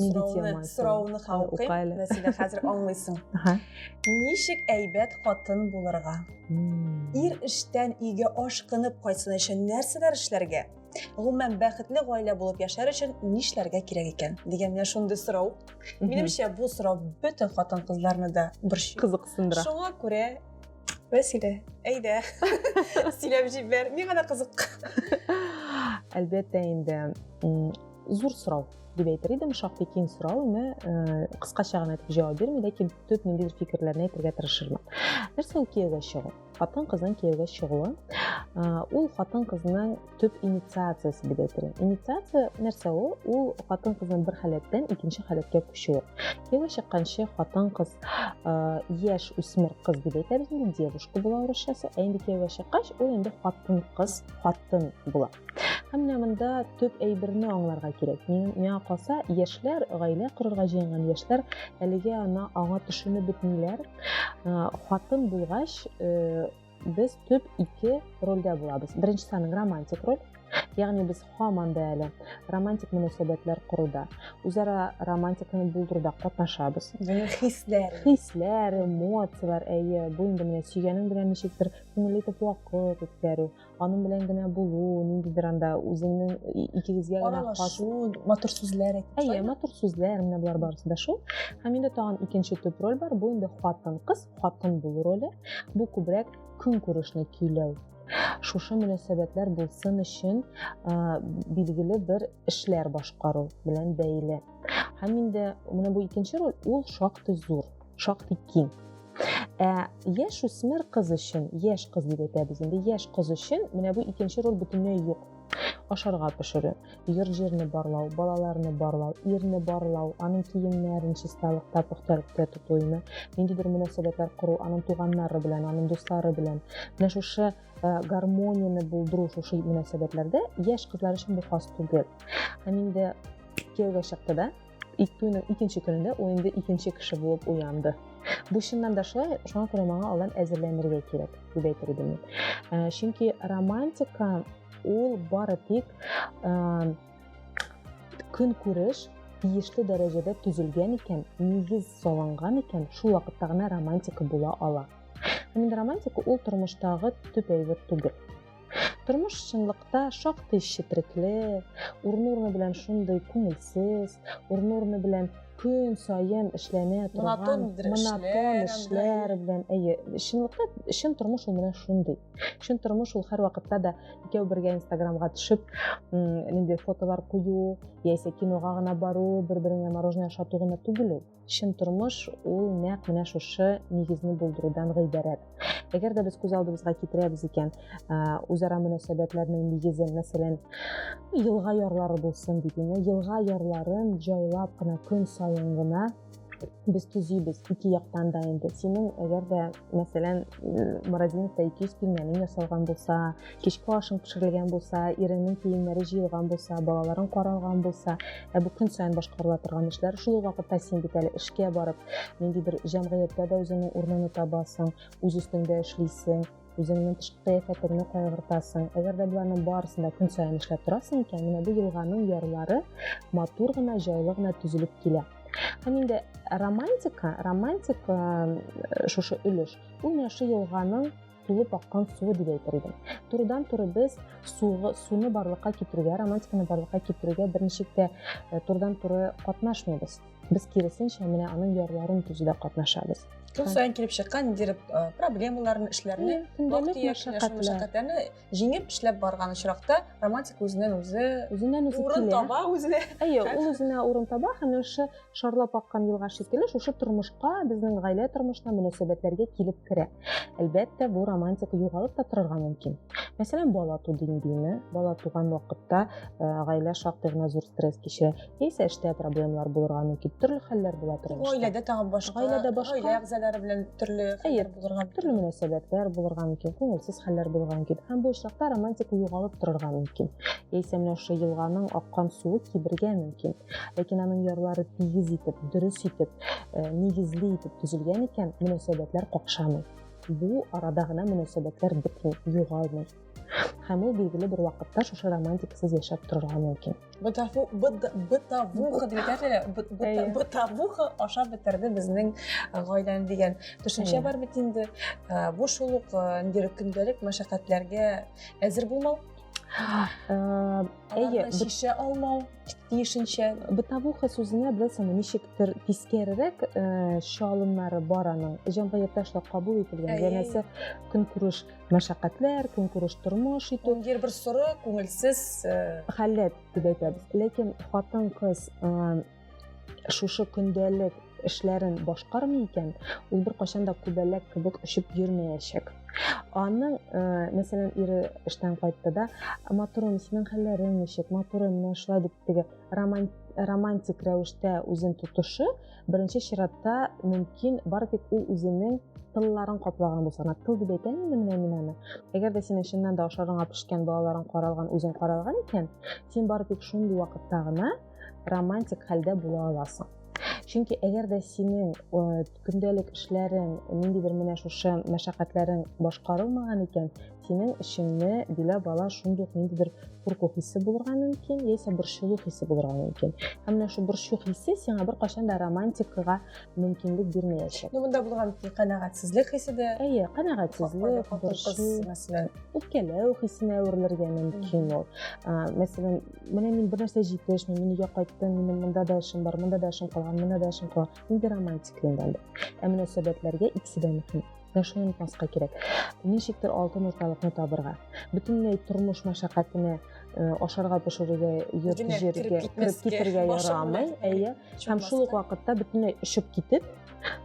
сорауны ха укыйм мәсәлән хәзер аңлыйсың ничек әйбәт хатын булырга ир эштән өйгә ашкынып кайтсын өчен нәрсәләр эшләргә гомумән бәхетле гаилә булып яшәр өчен нишләргә кирәк икән дигән менә шундый сорау минемчә бу сорау бөтен хатын кызларны да бер кызыксындыра шуңа күрә вәсилә әйдә сөйләп җибәр миңа да кызык әлбәттә инде зур сорау дип әйтер идем шактый киң сорау ны э, кыскача гына итеп җавап бирми ләкин төп ниндидер фикерләрне әйтергә тырышырмын нәрсә ул кияүгә чыгу хатын кызның кияүгә чыгуы э, ул хатын кызның төп инициациясе дип әйтер инициация нәрсә ул ул хатын кызның бер халәттән икенче халәткә күчүе кияүгә чыкканчы хатын кыз э, яшь үсмер кыз дип әйтәбез инде девушка була урысчасы ә инде кияүгә чыккач ул инде хатын кыз хатын була Һәм менә монда төп әйберне аңларга кирәк. Миңа калса, яшьләр, гаилә корырга җыенган яшьләр әлегә ана аңа төшенеп бетмиләр. Хатын булгач, э, без төп ике рольдә булабыз. Беренчесе аның романтик роль, ягъни без һаман да әле романтик мөнәсәбәтләр коруда, үзара романтиканы булдыруда катнашабыз. Яңа хисләр. Хисләр, эмоцияләр, әйе, бу инде менә сөйгәнең белән ничектер күңелле итеп вакыт үткәрү, аның белән генә булу ниндидер анда үзеңнең икегезгә генә аралашу матур сүзләр әйе матур сүзләр менә болар барысы да шул һәм инде тагын икенче төп роль бар бу инде хатын кыз хатын булу роле бу күбрәк көнкүрешне көйләү шушы мөнәсәбәтләр булсын өчен билгеле бер эшләр башкару белән бәйле һәм инде менә бу икенче роль ул шактый зур шактый киң ә яшь үсмер кыз өчен яшь кыз дип әйтәбез инде яшь кыз өчен менә бу икенче роль бөтенләй юк ашарга пешерү йорт җирне барлау балаларны барлау ирне барлау аның киемнәрен чисталыкта пөхтәлектә тоту име ниндидер мөнәсәбәтләр кору аның туганнары белән аның дуслары белән менә шушы э, гармонияне булдыру шушы мөнәсәбәтләрдә яшь кызлар өчен бу хас түгел һәм инде кияүгә чыкты да Туйның икенче көнендә ул инде икенче кеше булып уянды. Бу чыннан да шулай, шуңа күрә моңа алдан әзерләнергә кирәк, дип әйтер идем мин. Ә, чөнки романтика ул бары тик ә, көн күреш тиешле дәрәҗәдә төзелгән икән, нигез салынган икән, шул вакытта гына романтика була ала. Һәм романтика ул тормыштагы төп әйбер түгел. Тормыш чынлыкта шактый четрекле, урын-урыны белән шундый күңелсез, урын-урыны белән көн саен эшләнә торган монотон эшләр белән әйе чынлыкта чын тормыш ул менә шундый чын тормыш ул һәрвакытта да икәү бергә инстаграмга төшеп нинди фотолар кую яисә кинога гына бару бер береңә мороженое ашату гына түгел ул чын тормыш ул нәкъ менә шушы нигезне булдырудан гыйбарәт әгәр дә без күз алдыбызга китерәбез икән үзара мөнәсәбәтләрнең нигезе мәсәлән елга ярлары булсын дип инде елга ярларын җайлап кына көн саен гына без төзибез ике яктан да инде синең әгәр дә мәсәлән морозиловта ике йөз пилмәнең ясалган булса кичке ашың пешерелгән булса иреңнең киемнәре җыелган булса балаларың каралган булса ә бу көн саен башкарыла торган эшләр шул ук вакытта син бит әле эшкә барып нинди бер җәмгыятьтә дә үзеңнең урыныңны табасың үз өстеңдә эшлисең үзеңнең тышкы кыяфәтеңне кайгыртасың әгәр дә боларның барысын да көн саен эшләп торасың икән менә бу елганың ярлары матур гына җайлы гына төзелеп килә һәм инде романтика романтика э, шушы өлеш ул менә шул елганың тулып аккан суы дип әйтер идем. Турыдан туры без суы, суны барлыкка китерүгә, романтиканы барлыкка китерүгә берничек тә э, турыдан туры катнашмыйбыз. Без киресенчә менә аның ярларын төзүдә катнашабыз. Көн сайын килеп чыккан ниндидер э, проблемаларны, эшләрне, вакыт мәшәкатьләрне җиңеп эшләп барган очракта романтика үзеннән үзе урын таба, үзенә. Әйе, ул үзенә урын таба һәм ошо шарлап аккан елга шикелле шушы тормышка безнең гаилә тормышына мөнәсәбәтләргә килеп керә әлбәттә бу романтика югалып та торырга мөмкин мәсәлән бала ту диңгеме бала туган вакытта э, гаилә шактый гына зур стресс кичә яисә эштә проблемалар булырга мөмкин төрле хәлләр була тормышта гаиләдә тагын башка гаиләдә башка гаилә әгъзалары белән төрле хәлләр булырга төрле мөнәсәбәтләр булырга мөмкин күңелсез хәлләр булырга мөмкин һәм бу очракта романтика югалып торырга мөмкин яисә менә шушы елганың аккан суы кибергә мөмкин Ләкин аның ярлары тигез итеп, дөрес итеп, э, нигезле итеп төзелгән икән, мөнәсәбәтләр какшамый. Бу арада гына мөнәсәбәтләр бетми, югалмый. Һәм ул билгеле бер вакытта шушы романтикасыз яшәп торырга мөмкин. Бытафу, быт, бытавуха дип әйтәләр, быт- бытавуха ашап бетерде безнең э, гаиләне дигән төшенчә Әйе. бар бит инде. Э, Бу шул ук э, инде көндәлек мәшәкатьләргә әзер булмау, Э, Әйе, аларны бит- чишә алмау. тиешенчә бытовуха сүзенә белән соң ничектер тискәрерәк э, чалымнары бар аның җәмгыятьтә шулай кабул ителгән янәсе көнкүреш мәшәкатьләр көнкүреш тормыш итү гер бер соры күңелсез э, халәт дип әйтәбез ләкин хатын кыз э, шушы көндәлек эшләрен башкармый икән, ул бер кайчан да күбәләк кебек очып йөрмәячәк. Аның, э, мәсәлән, ире эштән кайтты да, матурым, синең хәлләрең ничек, матурым, менә шулай дип теге романтик рәвештә үзен тотышы, беренче чиратта мөмкин, бар тик ул үзенең тылларын каплаган булса гына тыл дип әйтәм инде менә мин аны әгәр дә синең чыннан да ашарыңа пешкән балаларың каралган үзең каралган икән син бары тик шундый вакытта гына романтик хәлдә була аласың чөнки әгәр дә синең көндәлек эшләрең ниндидер менә шушы мәшәкатьләрең башкарылмаган икән синең эшеңне биләп ала шундый ук ниндидер курку хисе булырга мөмкин яисә борчылу хисе булырга мөмкин һәм менә шул борчу хисе сиңа беркайчан да романтикага мөмкинлек бирмәячәк ну монда булган канәгатьсезлек хисе дә әйе канәгатьсезлек борчу мәсәлән үпкәләү хисенә әверелергә мөмкин ул мәсәлән менә мин бер нәрсә җитешми мин өйгә кайттым минем монда да эшем бар монда да эшем калган монда да эшем калган нинди романтик инде ә мөнәсәбәтләргә икесе дә мөһим менә шуны онытмаска кирәк ничектер алтын урталыкны табырга бөтенләй тормыш мәшәкатенә э, ашарга пешерергә йөреп җиргә кереп китергә ярамый әйе һәм шул ук вакытта бөтенләй өшеп китеп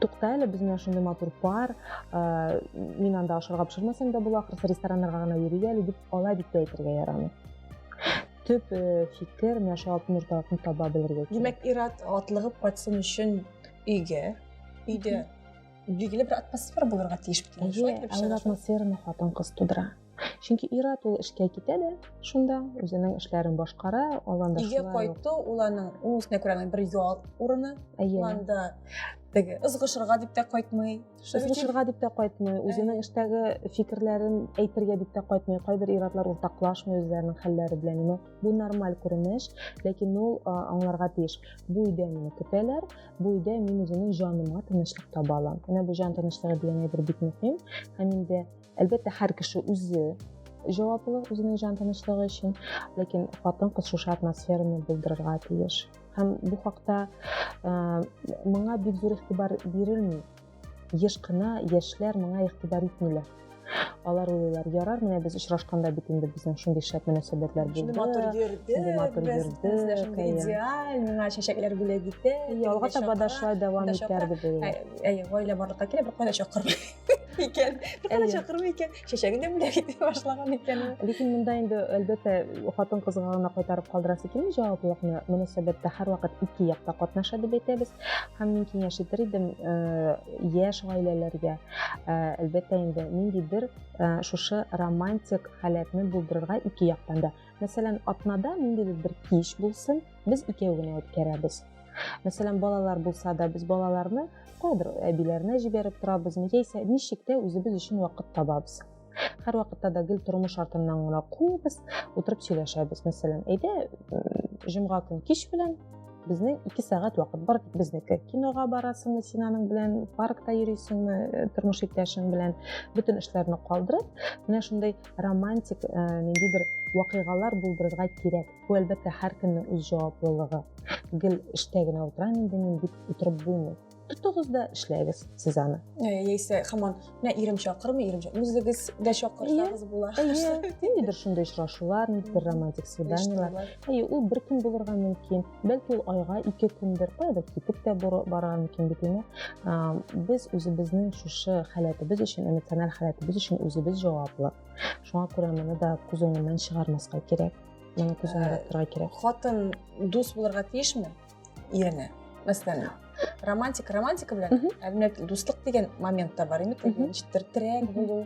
тукта әле без менә шундый матур пар э, мин анда ашарга пешермәсәм дә була ахрысы рестораннарга гына йөри әле дип алай дип тә әйтергә ярамый төп э, фикер менә шул алтын урталыкны таба белергә димәк ир-ат атлыгып кайтсын өчен өйгә өйдә билгеле бер атмосфера булырга тиеш бит шулай килеп чыга атмосфераны хатын кыз тудыра чөнки ир-ат ул эшкә китә дә шунда үзенең эшләрен башкара аланда өйгә кайту ул аның үз күрә бер ял урыны анда теге ызгышырга дип тә кайтмый Сушырга дип тә кайтмый, үзенең эштәге фикерләрен әйтергә дип тә кайтмый. Кайбер иратлар уртаклашмый үзләренең хәлләре белән. Аны бу нормаль күренеш, ләкин ул аңларга тиеш. Бу өйдә мине көтәләр, бу өйдә мин үземнең җаныма тынычлык таба алам. Менә бу җан тынычлыгы дигән әйбер бик мөһим. Һәм инде әлбәттә һәр кеше үзе җаваплы үзенең җан тынычлыгы өчен, ләкин хатын-кыз шушы атмосфераны булдырырга тиеш. һәм бу хакта моңа бик зур игътибар бирелми еш кына яшьләр моңа игътибар итмиләр алар уйлыйлар ярар менә без очрашканда бит инде безнең шундый шәп мөнәсәбәтләр булды шундый матур йөрдек матур йөрдек шундый идеаль миңа чәчәкләр бүләк итә алга таба да шулай дәвам итәр дип уйлыйм әйе гаилә барлыкка килә беркая да чакырмый икән беркая да чакырмый икән чәчәге дә бүләк итә башлаган икән ләкин монда инде әлбәттә хатын кызга гына кайтарып калдырасы килми җаваплылыкны мөнәсәбәттә һәрвакыт ике як та катнаша дип әйтәбез һәм мин киңәш итер идем э, яшь гаиләләргә э, әлбәттә инде ниндидер э, шушы романтик халәтне булдырырга ике яктан да мәсәлән атнада ниндидер бер кич булсын без икәү генә үткәрәбез мәсәлән балалар булса да без балаларны кайбер әбиләренә җибәреп торабызмы яисә ничек тә үзебез өчен вакыт табабыз һәр вакытта да гел тормыш артыннан гына куыбыз утырып сөйләшәбез мәсәлән әйдә җомга көн кич белән безнең ике сәгать вакыт бар тик безнеке кинога барасыңмы син аның белән паркта йөрисеңме э, тормыш иптәшең белән бөтен эшләрне калдырып менә шундай романтик э, ниндидер вакыйгалар булдырырга кирәк Бу әлбәттә һәркемнең үз җаваплылыгы. Гел эштә генә утырам инде мин дип утырып булмый. Тотыгыз да эшләгез сез аны. Яисә хаман, менә ирем чакырмый, ирем чакырмый. Үзегез дә чакырсагыз була. Ниндидер шундый очрашулар, ниндидер романтик свиданиелар. Әйе, ул бер көн булырга мөмкин. Бәлки ул айга ике көндер, кайда китеп тә бара мөмкин бит инде. Без үзебезнең шушы халәтебез өчен, эмоциональ халәтебез өчен үзебез җаваплы. Шуңа күрә моны да күз уңыннан чыгармаска кирәк. моны күзеңә э, тора кирәк хатын дус булырга тиешме ирене мәсәлән романтик романтика белән әлмәт дуслык дигән момент та бар инде ничектер терәк булу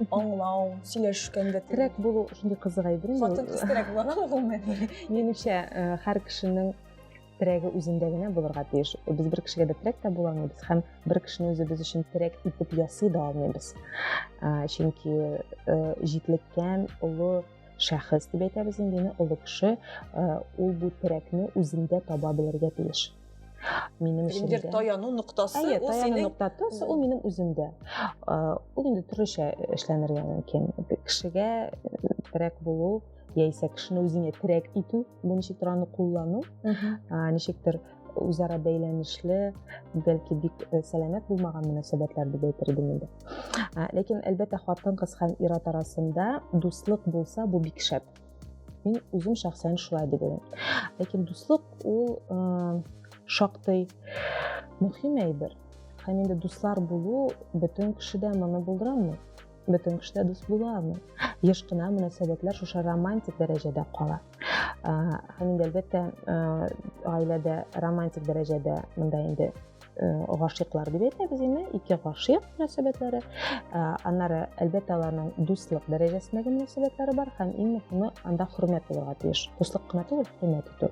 аңлау сөйләшкәндә терәк булу шундый кызык әйбер хатын кыз терәк була аламы гомумән менимчә һәр кешенең терәге үзендә генә булырга тиеш без бер кешегә дә терәк тә була алмыйбыз һәм бер кешене үзебез өчен терәк итеп ясый да алмыйбыз чөнки җитлеккән олы шәхес дип әйтәбез инде аны олы кеше ул бу терәкне үзендә таба белергә тиеш минем эшемдә таяну ноктасы әйе таяну ноктасы ул минем үземдә ул инде төрлечә эшләнергә мөмкин кешегә терәк булу яисә кешене үзеңә терәк итү бу ничектер аны куллану ничектер үзара бәйләнешле бәлки бик э, сәламәт булмаган мөнәсәбәтләр дип әйтер идем инде ә, ләкин әлбәттә хатын кыз һәм ир ат арасында дуслык булса бу бик шәп мин үзем шәхсән шулай дип уйлыйм ләкин дуслык ул э, шактый мөһим әйбер һәм инде дуслар булу бөтен кеше дә моны булдыра алмый бөтен кеше дә дус була алмый еш кына мөнәсәбәтләр шушы романтик дәрәҗәдә кала һәм инде әлбәттә гаиләдә романтик дәрәҗәдә монда инде гашыйклар дип әйтәбез инде ике гашыйк мөнәсәбәтләре аннары әлбәттә аларның дуслык дәрәҗәсендәге мөнәсәбәтләре бар һәм иң мөһиме анда хөрмәт булырга тиеш дуслык кына түгел хөрмәт итү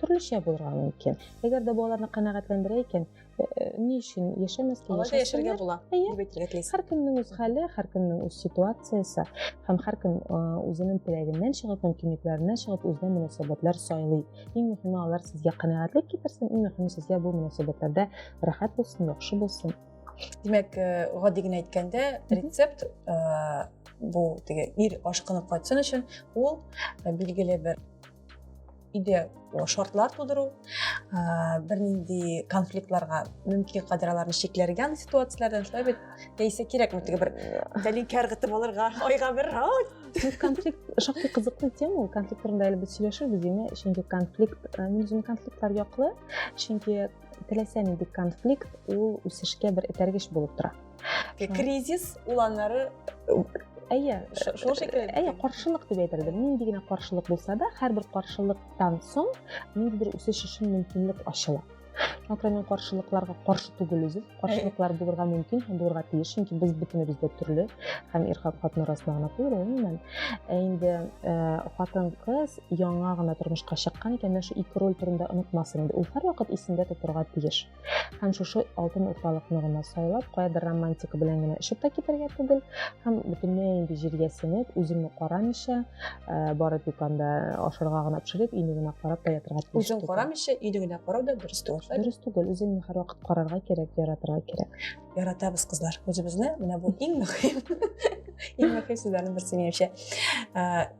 төрлечә булырга мөмкин әгәр дә бу аларны канәгатьләндерә икән э, э, ни өчен яшәмәскә алай да яшәргә була дип әйтергә телисез һәркемнең үз хәле һәркемнең үз ситуациясе һәм һәркем э, үзенең теләгеннән чыгып мөмкинлекләреннән чыгып үзенә мөнәсәбәтләр сайлый иң мөһиме алар сезгә канәгатьлек китерсен иң мөһиме сезгә бу мөнәсәбәтләрдә рәхәт булсын яхшы булсын димәк гади генә әйткәндә рецепт бу теге ир ашкынып кайтсын өчен ул билгеле бер өйдә шартлар тудыру бернинди конфликтларга мөмкин кадәр аларны чикләргә андый ситуацияләрдән шулай бит яисә кирәкме теге бер тәлинкә ыргытып алырга айга бер конфликт шактый кызыклы тема ул конфликт турында әле без сөйләшербез димә чөнки конфликт мин үзем конфликтлар яклы чөнки теләсә нинди конфликт ул үсешкә бер этәргеч булып тора кризис ул аннары әйе шул шикелле әйе каршылык дип әйтерлек нинди генә каршылык булса да һәрбер каршылыктан соң ниндидер үсеш өчен мөмкинлек ачыла Мәкрә мин каршылыкларга каршы түгел үзем. Каршылыклар булырга мөмкин һәм булырга тиеш, чөнки без бөтенебез дә төрле һәм ир хатын арасында гына түгел, гомумән. Ә инде э, хатын кыз яңа гына тормышка чыккан икән, менә шу ике роль турында онытмасын инде. Ул һәрвакыт исендә тотарга тиеш. һәм шушы алтын урталыкны гына сайлап каядыр романтика белән генә очып та китәргә түгел һәм бөтенләй инде җиргә сеңеп үзеңне карамыйча э, бары тик анда ашарга гына пешереп өйне генә карап та ятырга тиеш үзең карамыйча өйне генә карау да дөрес түгел дөрес түгел үзеңне һәрвакыт карарга кирәк яратырга кирәк яратабыз кызлар үзебезне менә бу иң мөһим иң мөһим сүзләрнең берсе минемчә э,